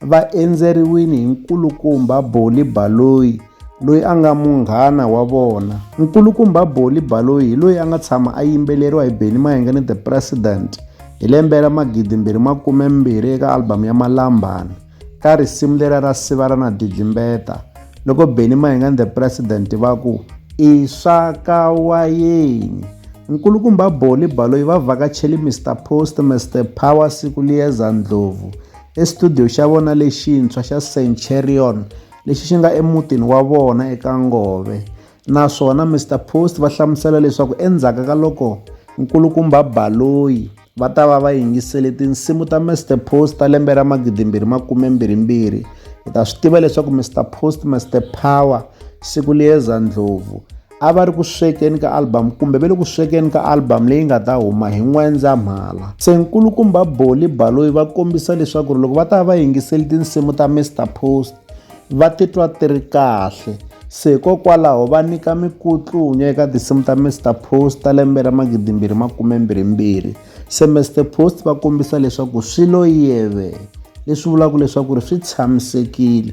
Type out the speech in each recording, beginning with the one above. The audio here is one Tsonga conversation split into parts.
va endzeriwile hi nkulukumba Boli Baloyi loyi a nga munghana wa vona. Nkulukumba Boli Baloyi hi loyi a nga tshama a yimbeleriwa hi Benny Mayenga ni The President hi lembe ra magidi mbirhi makume mbirhi eka album ya Malambani ka risimu lera ra Siva ra na Didlimbeta loko Benny Mayenga ni The President va ku i swa ka wayeni. Nkulukumba Boli Baloyi va vhakachele Mister Post, Mister Power, Siku Liyeza Ndlovu Exitudiyo xa vona lexintshwa xa Centurion lexi xi nga emutini wa vona eka Ngove naswona Mister Post va hlamusela leswaku endzhaku ka loko nkulukumba Baloyi va ta va va yingisele tinsimu ta Mister Post ta lembe ra magidimbirhi makume mbirhimbirhi hi ta swi tiva leswaku Mister Post Mister Power siku liyeza ndlhovu a va ri ku swekeni ka album kumbe ve le ku swekeni ka album leyi nga ta huma hi n'wendzamhala se nkulukumba boli baloyi va kombisa leswaku ri loko va ta va va yingiseli tinsimu ta mr post va titwa ti ri kahle se hikokwalaho va nyika mikutlunya eka tinsimu ta mr post ta lembe ra magidimbirhi makumembirhimbirhi se mr post va kombisa leswaku swi lo yeve leswi vulaka leswaku ri swi tshamisekile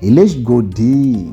hi le xigodini